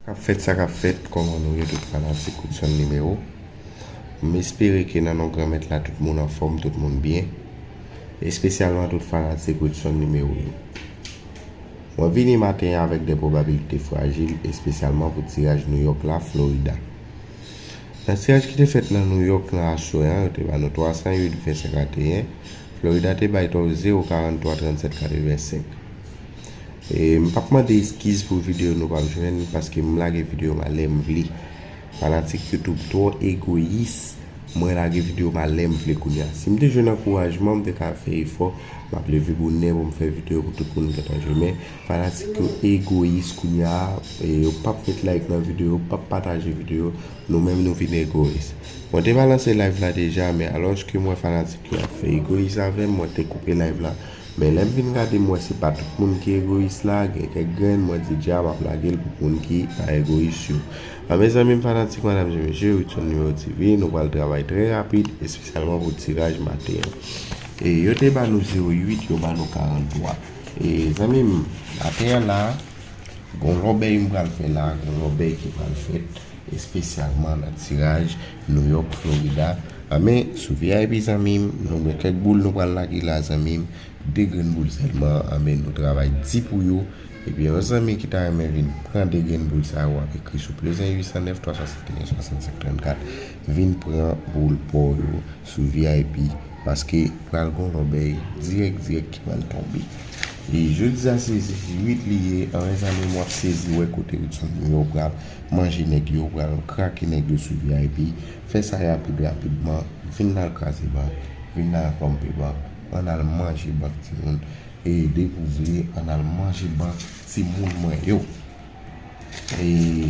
Kap fèt sa kap fèt kòman nou ye tout fanatik Woodson Numéro m espere ke nan non Granmèt la tout moun anfòm tout moun byen espesyalman tout fanatik Woodson Numéro yo mwen vini maten an avèk de pwobabilite frajil espesyalman pou tiraj Nouyòk la Florida nan tiraj ki te fèt nan Nouyòk nan aswè an yo te ba nou 308 vèsè 41 Florida te bay tò 0 43 37 85. M pap mande eskiz pou video nou pap jwenn paske m lage video m a lè m vle Fanatik youtube twò egoyis Mwen lage video m a lè m vle kounya Si m te jwenn ankourajman m te ka fè efò M ap leve bonè pou m fè video pou tout moun gentan jwenn Men fanatik yo egoyis kounya Yo pap met like nan video yo pap pataje video Nou menm nou vin egoyis Mwen te balanse live la deja men alòske m wè fanatik yo ap fè egoyis avè m mwen te koupe live la. Men lèm vin gade m wè se pa tout moun ki egoyis la, gen kèk grenn mwen di dja map lage l pou moun ki pa egoyis yo. A mes zanmim fanatik madam je mesye Widson Numero TV nou pral travay trè rapid espesyalman pou tiraj maten an. E yo te ba nou 08 yo ba nou 43 e zanmim maten an la. Gon lòbèy m pral fè la, gon lòbèy ki pral fèt espesyalman nan tiraj New York, Florida a men sou vip zanmi m nou gen kèk boul nou pral lage la zanmi m 2 grenn boul sèlman a men nou travay di pou yo ebyen yon zanmi ki ta renmen vin pran 2 grenn boul sa yo ap ekri sou plus 1 809 351 65 34 Vin pran boul paw yo sou vip paske pral gon lòbèy dirèk dirèk ki pral tonbe e jeudi sa se 8 li ye anyen zanmim wap sezi wè kote Hudson yo yo pral manje nèg yo pral krake nèg yo sou vip fè sa rapid rapidman vin nal kraze bank vin nal ponpe bank ann al manje bank timoun e depi ou vle ann al manje bank timoun mwen yo e.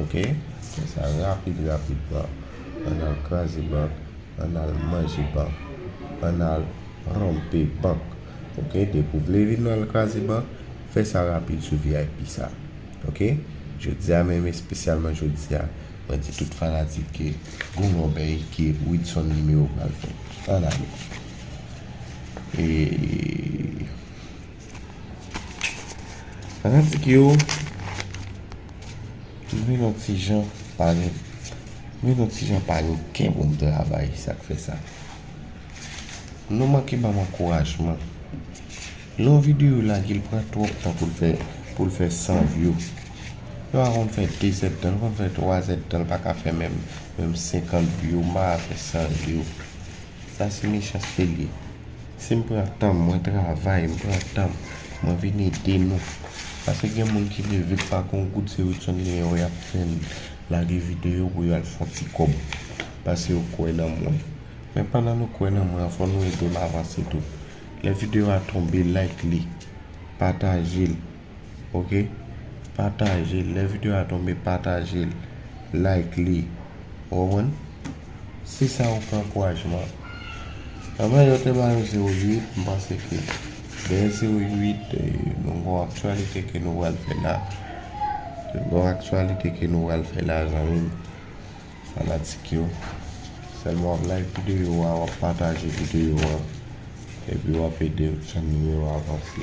Ok fè sa rapid rapid pran an al kraze bank an al manje bank an al Ranpe bank ok depi ou vle vin al kraze bank fè sa rapid sou vip sa ok jodi a menm espesyalman jodi a mwen di tout fanatik ke gou lòbèy ke widson numéro pral fè an ale eeeeee. Fanatik yo Mwen yon ti jan pale Mwen yon ti jan pale Ken bon travay sak fe sa Nou manke banm ankourajman Yon video lage l pran twop tan pou l fe Pou l fe 100 view Yon a konn fe 2 zèd tan l konn fe 3 zèd tan l paka fe menm Menm 50 view ma fe 100 view Sa se mechanste li ye. Si m pran tan m, mwen travay, m pran tan m, mwen vin ede nou. Pase gen moun ki leve k pa gon goud se Widson genyen yo y ap fè l lage videyo pou yo al fè yon ti kòb. Pase yo kwè nan mwen. Men pandan nou kwè nan mwen an fò nou ede m avanse tou. Lè videyo a tonbe like li, pataje l, ok pataje lè video a tonbe patajel like li ou konprann si sa ou fè ankourajman anvan yo te ba nou 0 8 m panse ke dèyè 0 8 nou gon aktyalite ke nou pral fè la nou gon aktyalite ke nou pral fè la zanmim fanatik yo sèlman wap like video a wap pataje video a epi wap ede zanmiw yo avanse.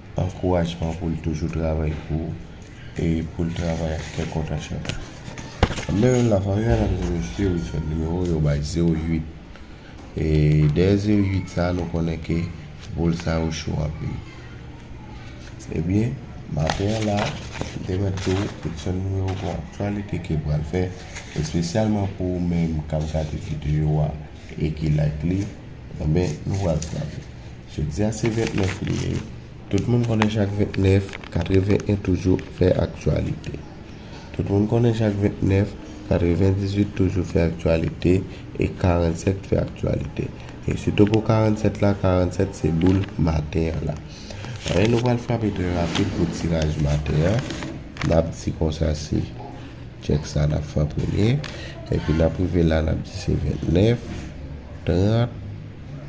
Ankourajman pou l toujou travay pou e pou l travay ak kè kontan chak jou. Anben menm la fanmi mèdam e mesye wi fè nimewo yo bay 08 e dèyè 08 sa nou konnen ke boul sa yo cho anpil ebyen maten an la m te mèt tou pote ti yon nimewo pou aktyalite ke pral fè espesyalman pou ou menm kap gade videyo a e ki like li anben nou pral frape. Jodi a se 29 me, tout moun konnen chak 29, 81 toujou fè aktyalite. Tout moun konnen chak 29, 98 toujou fè aktyalite e 47 fè aktyalite. E sitou pou 47 la, 47 se boul maten an la. Anyen nou pral frape trè rapid pou tiraj maten an. N ap di konsa se chèk sa n ap fè an premye. Epi n ap rive la n ap di se 29, 30.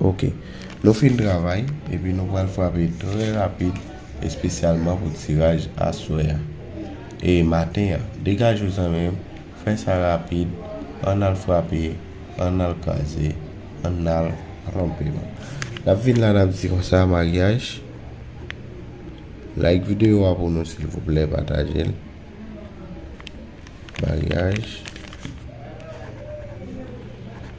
Ok Nou fin travay epi nou pral frape trè rapid espesyalman pou tiraj aswè a e maten an degaje w zanmi m fè sa rapid ann al frape ann al kraze ann al ranpe l n ap vin la n ap di konsa maryaj like videyo a pou nou silvouplè pataje l maryaj.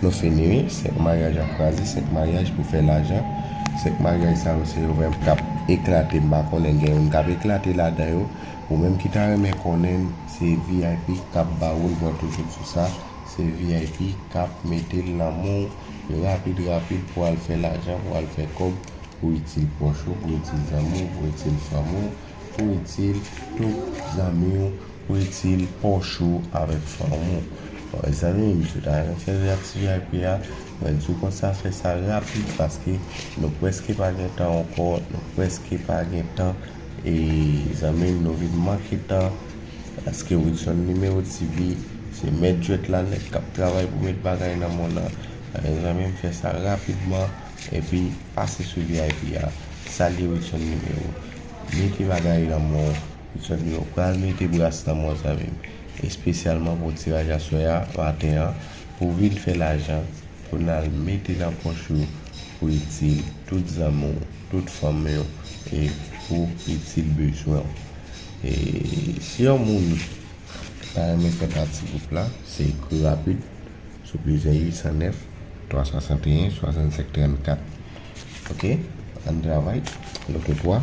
Nou fini wi, 5 maryaj ap kraze, 5 maryaj pou fè lajan, 5 maryaj sa yo se yo menm kap eklate, m pa konnen gen youn kap eklate ladan yo, ou menm ki ta renmen konnen se vip kap ba ou l mwen toujou sou sa, se vip kap mete l nan men w rapid rapid pou al fè lajan, pou al fè kòb, pou itil pwòch ou, pou itil zanmi w, pou itil fanmi w, pou itil tout zanmi w. Ou itil poch ou avèk fanm ou. Mezanmi m sot aven fè react vip a mwen diw konsa fè sa rapid paske nou preske pa gen tan ankò nou preske pa gen tan e zanmim nou vin manke tan paske wilson numero TV se mèt jwèt la nèg kap travay pou met bagay nan mond lan alò zanmim fè sa rapidman epi pase sou vip a salye wilson numero mete bagay nan monw. Zanmi yo pral mete bras nan mwen zanmi m espesyalman pou tiraj aswè a maten an pou vin fè lajan pou nal mete nan pòch yo pou itil tout zanmi w tout fanmi w e pou itil bezwen w e si yon moun ta renmen fè pati gwoup la se ekri rapid sou plizyè 809 361 65 34 ok ann travay nou te 3.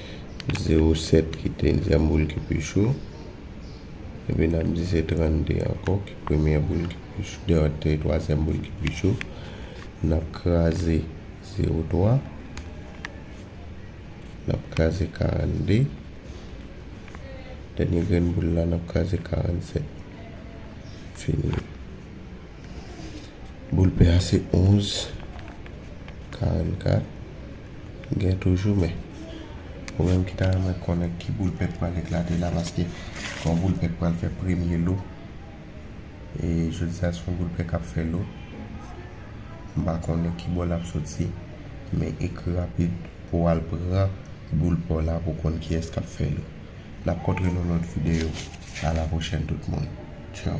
Zewo sèt ki dezyèm boul ki pi cho. Epi n ap di se 32 ankò ki premyè boul ki pi cho. Dè ot te twazyèm boul ki pi cho. N ap kraze zewo twa. N ap kraze 42. Dènye grenn boul la n ap kraze 47. Fini. Boul pè a se 11, 44. Gen toujou men. Ou menm ki ta renmen konnen ki boul pè k pral eklate la paske son boul pè k pral fè premye lo. E jodi a son boul pè k ap fè lo. M pa konnen ki bò l ap soti. Men ekri rapid pou w al pran boul pè w la pou w konn kiyès k ap fè lo. N ap kontre nan lòt videyo. A la pwochèn tout moun. Tchao.